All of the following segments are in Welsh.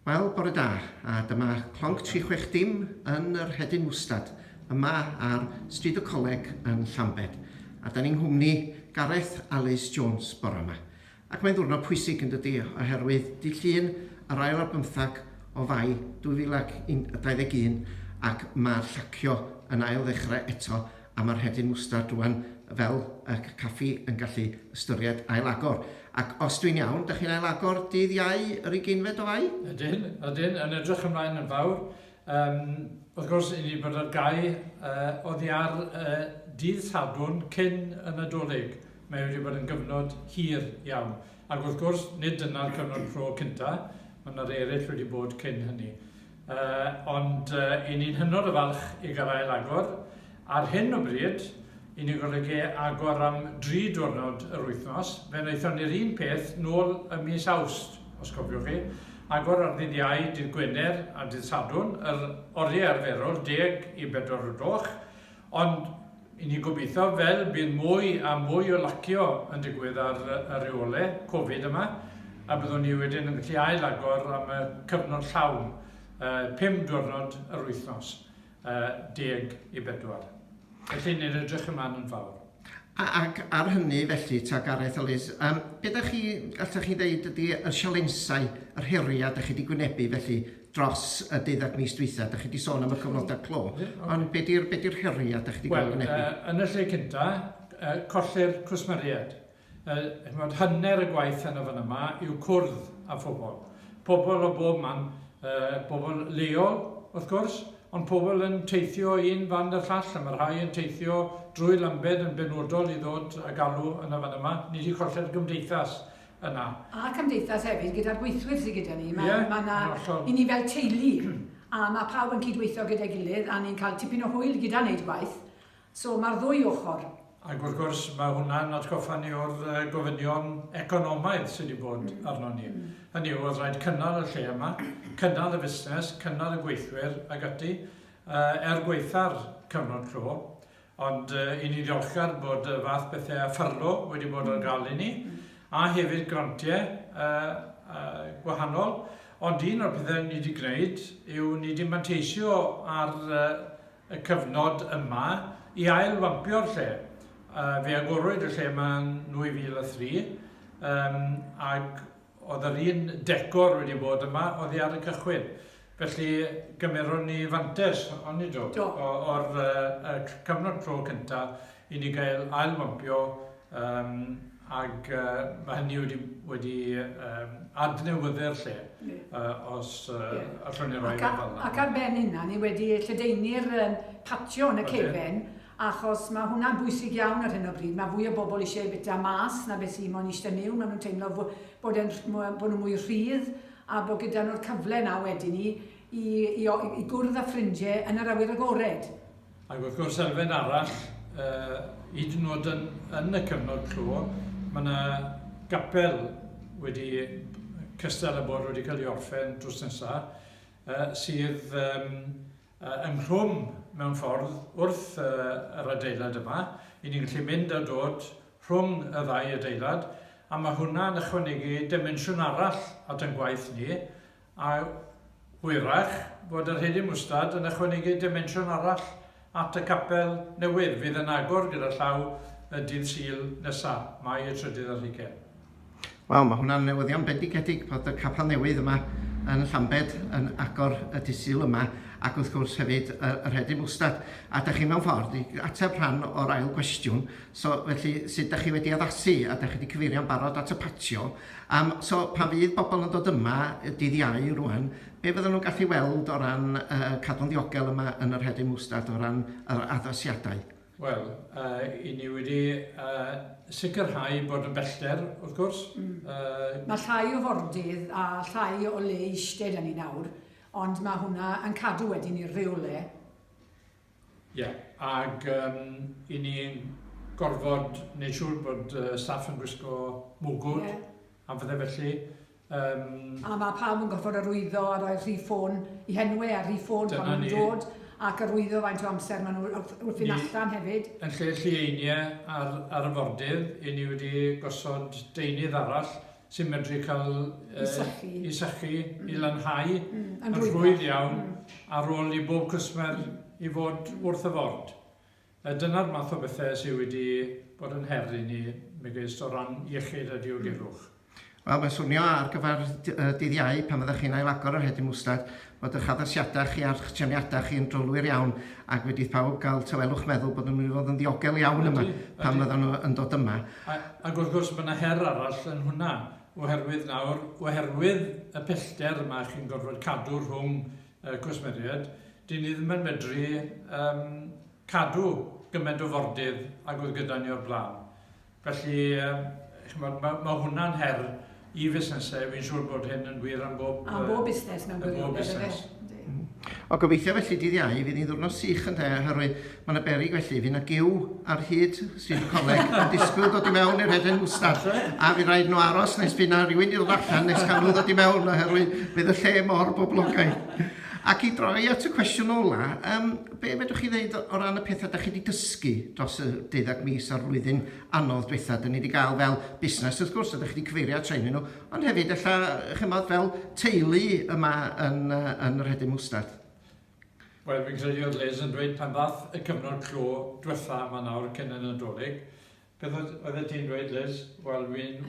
Wel, bore da, a dyma Clonc 36 dim yn yr Hedyn Wstad, yma ar Stryd y Coleg yn Llambed. A da ni'n nghwmni Gareth Alys Jones bore yma. Ac mae'n ddwrnod pwysig yn dydy, oherwydd dydd Llun yr ail ar bymthag o Fai 2021 ac mae'r llacio yn ail ddechrau eto a mae'r rhedyn mwstard rwan fel y caffi yn gallu ystyried ail-agor. Ac os dwi'n iawn, da chi'n ail-agor dydd Iau yr ugeinfed o Fai? Ydyn, ydyn, yn edrych ymlaen yn fawr. Um, wrth gwrs, i ni bod ar gau uh, oddi ar uh, dydd Sadwrn cyn y Nadolig. Mae wedi bod yn gyfnod hir iawn. Ac wrth gwrs, nid dyna'r cyfnod clo cynta, mae yna eraill wedi bod cyn hynny. Uh, ond uh, i ni'n hynod o falch i garael agor. Ar hyn o bryd, i ni golygu agor am dri diwrnod yr wythnos. Fe wnaethon ni'r un peth nôl y mis awst, os cofiwch chi. Agor ar ddydd iau, dydd Gwener a dydd Sadwn, yr oriau arferol, deg i bedwar o gloch. Ond, i ni gobeithio, fel bydd mwy a mwy o lacio yn digwydd ar y reole Covid yma, a byddwn ni wedyn yn gallu ail agor am y cyfnod llawn, pum diwrnod yr wythnos, deg i bedwar. Felly, ni'n edrych ymlaen yn fawr. A- ac ar hynny felly ta Gareth a Liz, yym be dach chi, allwch chi ddeud ydy y sialensau, yr heriau dach chi wedi gwynebu felly dros y deuddag mis dwytha? Dach chi wedi sôn am y cyfnodau clo, ond be di'r be di'r heriau dach chi wedi cael eu gwynebu? Wel, yy yn y lle cynta, yy colli'r cwsmeriaid. Yy ch'mod hanner y gwaith yn y fan yma yw cwrdd â phobl. Pobl o bob man, yy pobl leol wrth gwrs, Ond pobl yn teithio un fand a llall, a mae rhai yn teithio drwy Lambed yn benodol i ddod a galw yn y fan yma. Ni wedi colli'r gymdeithas yna. A'r cymdeithas hefyd gyda'r gweithwyr sydd gyda ni. Mae, yeah, mae na, i ni fel teulu, a mae pawb yn cydweithio gyda'i gilydd, a ni'n cael tipyn o hwyl gyda wneud gwaith, So mae'r ddwy ochr. Ac wrth gwrs, mae hwnna'n atgoffa ni o'r gofynion economaidd sydd wedi bod arno ni. Hynny yw, oedd rhaid cynnal y lle yma, cynnal y fusnes, cynnal y gweithwyr ag ati, er gweitha'r cyfnod clo, ond i ni ddiolchgar bod y fath bethau a ffyrlo wedi bod ar gael i ni, a hefyd grantiau gwahanol, ond un o'r pethau ni wedi gwneud yw ni wedi manteisio ar y cyfnod yma i ail-fampio'r lle. Uh, fe agorwyd y lle yma yn 2003 um, ac oedd yr un decor wedi bod yma oedd ar y cychwyn. Felly gymeron ni fantes, ond ni do, o'r uh, cyfnod tro cyntaf i ni gael ail-fampio yym ac yy ma' hynny wedi wedi yym adnewyddu'r lle yy os yy allwn ni roi fe fel 'na. Ac ar ben hynna ni wedi lledaenu'r yym patio yn y cefn achos ma' hwnna'n bwysig iawn ar hyn o bryd, ma' fwy o bobl eisiau bwyta mas na beth sy'n mo'n eistedd miwn, ma' nhw'n teimlo fo- bod e'n rh- mwy bod nhw'n mwy rhydd a bod gyda nhw'r cyfle 'na wedyn i i i o- i gwrdd â ffrindie yn yr awyr agored. Ac wrth gwrs elfen arall, hyd yn oed yn, yn y cyfnod clo, mae yna gapel wedi cystal a bod wedi cael ei orffen drws nesaf, sydd um, ynghlwm mewn ffordd wrth yr adeilad yma. I ni'n gallu mynd a dod rhwng y ddau adeilad a mae hwnna'n ychwanegu dimensiwn arall at ein gwaith ni A hwyrach fod yr hedyn mwstad yn ychwanegu dimensiwn arall at y capel newydd fydd yn agor gyda llaw y dydd Sul nesa, Mai y trydydd ar hugain. Wel, mae hwnna'n newyddion bendigedig bod y capel newydd yma yn Llambed yn agor y dydd Sul yma ac wrth gwrs hefyd yr hedyn mwstad. A da chi mewn ffordd i ateb rhan o'r ail gwestiwn, so felly sut da chi wedi addasu a da chi wedi cyfeirio'n barod at y patio, Yym, so pan fydd bobl yn dod yma dydd Iau rŵan, be fyddan nhw'n gallu weld o ran yy cadw'n ddiogel yma yn yr Hedyn Mwstad o ran yr addasiadau? Wel, yy, 'yn ni wedi yy sicrhau bod yn bellter, wrth gwrs, yy... Mae llai o fordydd a llai o le i eistedd 'da ni nawr, ond mae hwnna yn cadw wedyn i'r rheolau Ie, ac yym, i ni gorfod neud siŵr bod yy staff yn gwisgo mwgwd... Ie. ...a phethe felly, yym. A ma' pawb yn gorfod arwyddo a rhoi'r rhif ffôn i Henwe a'r rhif ffôn pan ma' nhw'n dod ac arwyddo faint o amser ma' nhw wrth wrth fynd allan hefyd. Yn lle llieinie ar arfordir, 'yn ni wedi gosod deunydd arall sy'n medru cael uh, sychu. i sychu, mm. i lanhau mm. yn rhwydd iawn mm. ar ôl i bob cwsmer i fod wrth y ford. A dyna'r math o bethau sydd wedi bod yn her i ni megis o ran iechyd a diogelwch. Mm. Wel, mae'n swnio ar gyfer dydd iau pan fyddech chi'n ailagor yr hedyn mwstad, fod ych addasiadau chi a'ch trefniadau chi yn drylwyr iawn ac wedi i phawb gael tawelwch meddwl bod nhw'n mynd i fod yn ddiogel iawn yma pan fyddan nhw yn dod yma. Ac wrth gwrs mae yna her arall yn hwnna oherwydd nawr, oherwydd y pellter yma chi'n gorfod cadw rhwng y cwsmeriaid, dyn ni ddim yn medru yym cadw gymaint o fordydd ag oedd gyda ni o'r blaen. Felly, ch'mod, ma' ma' hwnna'n her i fusnesau, fi'n siŵr bod hyn yn wir am bob... Am bob busnes mewn gwirionedd, ynde? Am bob busnes. O, gobeithio felly dydd Iau fydd hi'n ddiwrnod sych ynde, oherwydd mae yna beryg felly, fydd yna giw ar hyd Stryd y Coleg yn disgwyl dod i mewn i'r Headland Wstad, a fydd rhaid nhw aros nes bydd yna rhywun i ddod allan nes cael nhw ddod i mewn, oherwydd bydd y lle mor boblogaidd. Ac i droi at y cwestiwn ola, yym, Be' fedrwch chi ddeud o ran y petha' 'dach chi 'di dysgu dros y deuddag mis a'r flwyddyn anodd dwetha'? 'Dyn ni 'di ga'l fel busnes wrth gwrs, a 'dach chi 'di cyfeirio at rhein nhw, ond hefyd ella ch'mod fel teulu yma yn yy yn y Rhedyn Mwstard. Wel fi'n credu o'dd Liz yn dweud pan ddath y cyfnod clo dwetha' 'ma nawr cyn y Nadolig Beth oeddet ti'n dweud, Liz? Wel,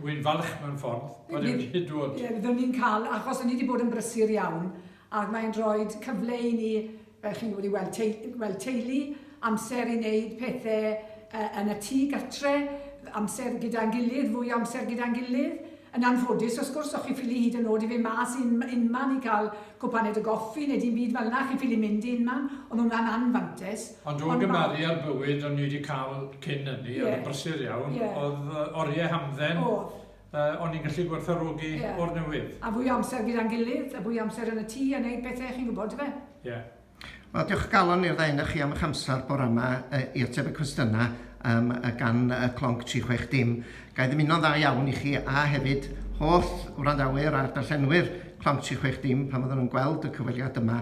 wi'n falch mewn ffordd bod e wedi dod. Ie, byddwn ni'n cael, achos ni wedi bod yn brysur iawn, ac mae'n rhoi cyfle i ni, fel chi'n gwybod, i weld, tei, weld teulu, amser i wneud pethau uh, yn y tŷ gatre, amser gyda'n gilydd, fwy amser gyda'n gilydd. Yn anffodus, os gwrs, o'ch chi ffili hyd yn oed i fe mas un, unman i cael cwpaned o goffi neu dim byd fel yna, chi ffili mynd i unman, ond hwnna'n anfantes. Ond o'r gymharu â'r bywyd o'n i wedi cael cyn hynny, oedd yn brysur iawn, oedd oriau hamdden, o'n i'n gallu gwerthfawrogi o'r newydd. A fwy o amser gyda'n gilydd, a fwy o amser yn y tŷ a wneud pethau, chi'n gwybod, dyfe? Ie. Wel, diolch o galon i'r ddau ohonoch chi am eich amser bore yma i ateb y cwestiynau um, gan y clonc 360. Ga i ddymuno'n dda iawn i chi a hefyd holl wrandawyr a'r darllenwyr clonc 360 pan fydden nhw'n gweld y cyfweliad yma